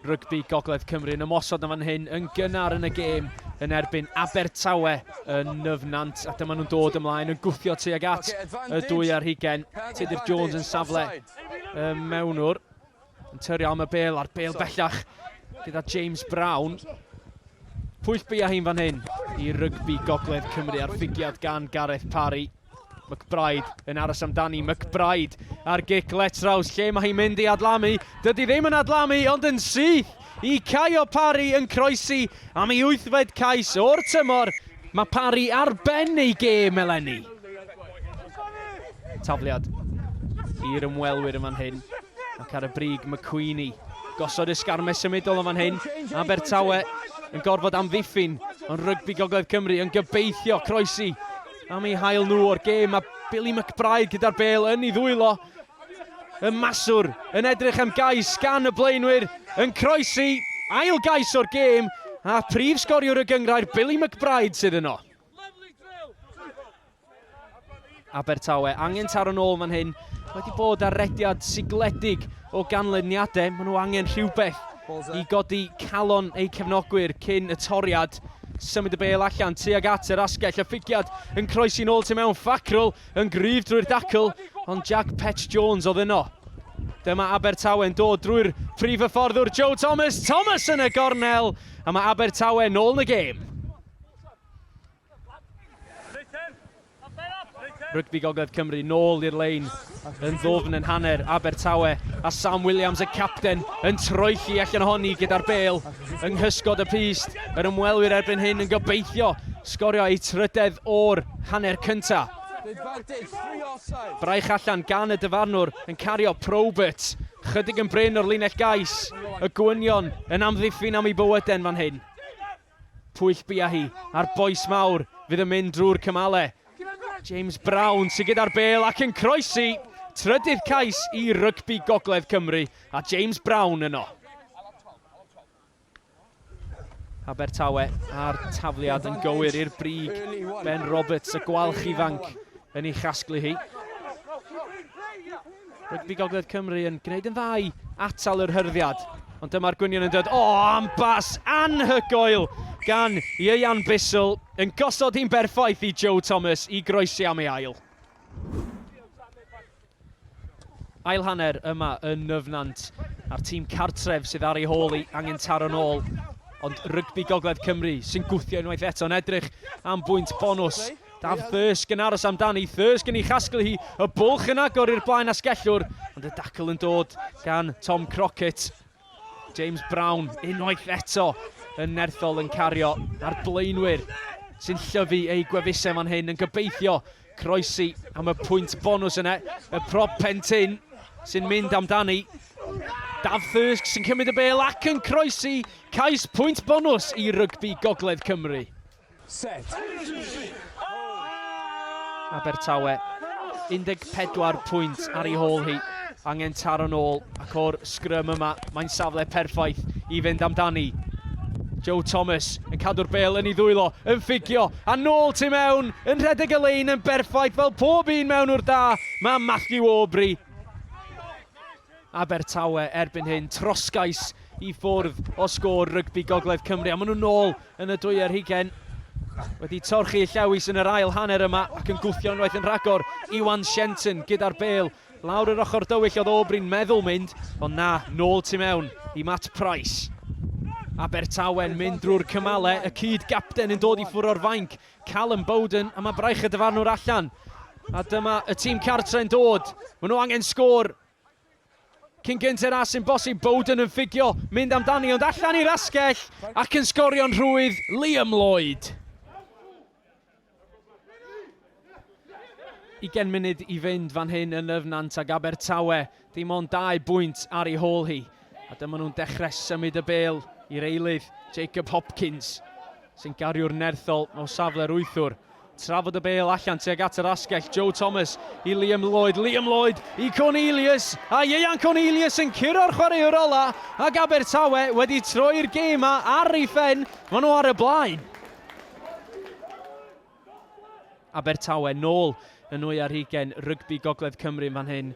Rygbi Gogledd Cymru yn ymosod yn fan hyn yn gynnar yn y gêm yn erbyn Abertawe yn Nyfnant a dyma nhw'n dod ymlaen yn gwthio tuag at y dwy ar hugen. Tudur Jones yn safle y mewnwr yn tyrio am y bel a'r bel bellach gyda James Brown. Pwyll bia hi'n fan hyn i rygbi Gogledd Cymru ar fugiad gan Gareth Parry. McBryde yn aros amdani, McBryde ar gic Letraws, lle mae hi'n mynd i adlamu. Dydy ddim yn adlamu, ond yn syth i Caio Parry yn croesi am ei wythfed cais o'r tymor. Mae Parry ar ben ei gêm eleni. Tafliad i'r ymwelwyr yn fan hyn, ac ar y brig McQueenie. Gosod ysgarmes symudol yn fan hyn, Abertawe yn gorfod amddiffyn, ond rygbi Gogledd Cymru yn gobeithio croesi Am ei hail nhw o'r gêm a Billy McBride gyda'r bel yn ei ddwylo. Y maswr yn edrych am gais gan y blaenwyr yn croesi ail gais o'r gêm a prif sgoriwr y gyngrair Billy McBride sydd yno. Abertawe angen taro nôl fan hyn. Wedi bod ar rediad sigledig o ganlyniadau. Maen nhw angen rhywbeth i godi calon eu cefnogwyr cyn y toriad. Symud y bel allan tuag at yr asgell, y ffigiad yn croesi'n ôl tu mewn, Ffacrwl yn gryf drwy'r dacl, ond Jack Pets Jones oedd yno. Dyma Abertawe yn dod drwy'r prif hyfforddwr Joe Thomas, Thomas yn y gornel, a mae Abertawe nôl yn y gêm. Rygbi Gogledd Cymru nôl i'r lein yn ddwfn yn hanner Abertawe a Sam Williams y capten yn troelli allan ohoni gyda'r bel yng nghysgod y pyst. Yr ymwelwyr erbyn hyn yn gobeithio sgorio eu trydedd o'r hanner cynta. Braich allan gan y dyfarnwr yn cario Probert. Chydig yn bryn o'r linell gais. Y gwynion yn amddiffyn am ei bywyden fan hyn. Pwyll bia hi a'r bois mawr fydd yn mynd drwy'r cymale. James Brown sy gyda'r bêl ac yn croesi! Trydydd cais i rygbi Gogledd Cymru a James Brown yno. Abertawe a'r tafliad yn gywir i'r brig. Ben Roberts, y gwalch ifanc, yn ei chasglu hi. Rygbi Gogledd Cymru yn gwneud yn dda i atal yr hyrddiad. Ond dyma'r gwynion yn dod. O, oh, am bas anhygoel gan Ieuan Bissell yn gosod hi'n berffaith i Joe Thomas i groesi am ei ail. Ail hanner yma yn Nyfnant a'r tîm cartref sydd ar ei hôl i angen taro'n ôl. Ond rygbi Gogledd Cymru sy'n gwthio unwaith eto yn edrych am bwynt bonus. Daf Thirsk yn aros amdani, Thirsk yn ei chasglu hi, y bwlch yn agor i'r blaen asgellwr, ond y dacl yn dod gan Tom Crockett. James Brown unwaith eto yn nerthol yn cario ar blaenwyr sy'n llyfu eu gwefusau fan hyn yn gobeithio croesi am y pwynt bonus yna. Y prop pentyn sy'n mynd amdani. Daf Thirsk sy'n cymryd y bel ac yn croesi cais pwynt bonus i rygbi Gogledd Cymru. Set! Abertawe, 14 pwynt ar ei hôl hi, angen taro'n ôl, ac o'r sgrym yma, mae'n safle perffaith i fynd amdani. Joe Thomas yn cadw'r bel yn ei ddwylo, yn ffugio, a nôl tu mewn, yn rhedeg y lein yn berffaith fel pob un mewn o'r da, mae Matthew Aubrey. Abertawe erbyn hyn, trosgais i ffwrdd o sgôr rygbi Gogledd Cymru a maen nhw'n ôl yn y dwy ar hugain. Wedi torchi y llewis yn yr ail hanner yma ac yn gwthio unwaith yn rhagor, Iwan Shenton gyda'r bêl. Lawr yr ochr dywyll oedd Aubrey'n meddwl mynd, ond na, nôl tu mewn i Matt Price. Abertawe'n mynd drwy'r cymale, y cyd-gapten yn dod i ffwrdd o'r fainc Callum Bowden, a mae braich y dyfarnwr allan. A dyma y tîm cartre'n dod. Maen nhw angen sgôr. Cyn gynter a sy'n bosib, Bowden yn ffugio, mynd amdani, ond allan i'r asgell, ac yn sgorio'n rhwydd, Liam Lloyd. Ugain munud i fynd fan hyn yn Nyf Nant ag Abertawe. Dim ond dau bwynt ar ei hôl hi, a dyma nhw'n dechrau symud y bêl i'r eilydd, Jacob Hopkins, sy'n gario'r nerthol o safle'r wythwr. Trafod y bêl allan tuag at yr asgell, Joe Thomas i Liam Lloyd, Liam Lloyd i Cornelius, a Ieuan Cornelius yn curo'r chwaraewr ola, ac Abertawe wedi troi'r gêm ma ar ei phen, maen nhw ar y blaen. Abertawe nôl yn nwy ar hugain rygbi Gogledd Cymru yn fan hyn.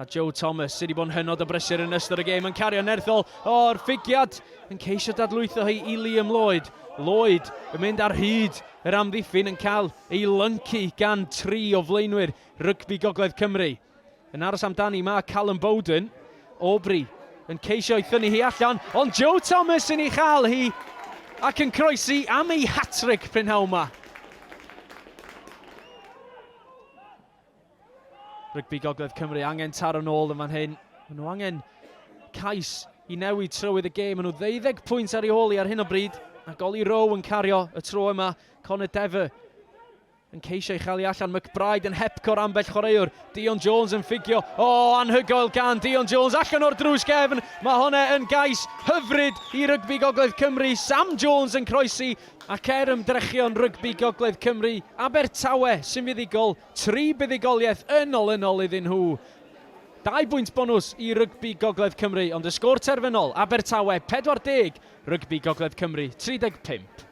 A Joe Thomas sydd wedi bod yn hynod o brysur yn ystod y gêm yn cario nerthol o'r ffigiad yn ceisio dadlwytho hi i Liam Lloyd. Lloyd yn mynd ar hyd yr amddiffyn yn cael ei lyncu gan tri o flaenwyr rygbi Gogledd Cymru. Yn aros amdani mae Callum Bowden. Aubrey yn ceisio ei thynnu hi allan, ond Joe Thomas yn ei chael hi ac yn croesi am ei hatric prynhawn yma. Rygbi Gogledd Cymru angen taro nôl yn fan hyn. Mae nhw angen cais i newid trywydd y gêm. Mae nhw ddeuddeg pwynt ar ei ôl i ar hyn o bryd. A goli Row yn cario y tro yma. Connor Dever Yn ceisio ei chael allan, McBride yn hepco'r ambell chwaraewr. Dion Jones yn ffugio. O, oh, anhygoel gan Dion Jones allan o'r drws gefn. Mae hwnna yn gais hyfryd i rygbi Gogledd Cymru. Sam Jones yn croesi ac er ymdrechion rygbi Gogledd Cymru, Abertawe sy'n fuddugol, tri buddugoliaeth yn olynol iddyn nhw. Dau bwynt bonws i rygbi Gogledd Cymru, ond y sgôr terfynol, Abertawe 40, rygbi Gogledd Cymru 35.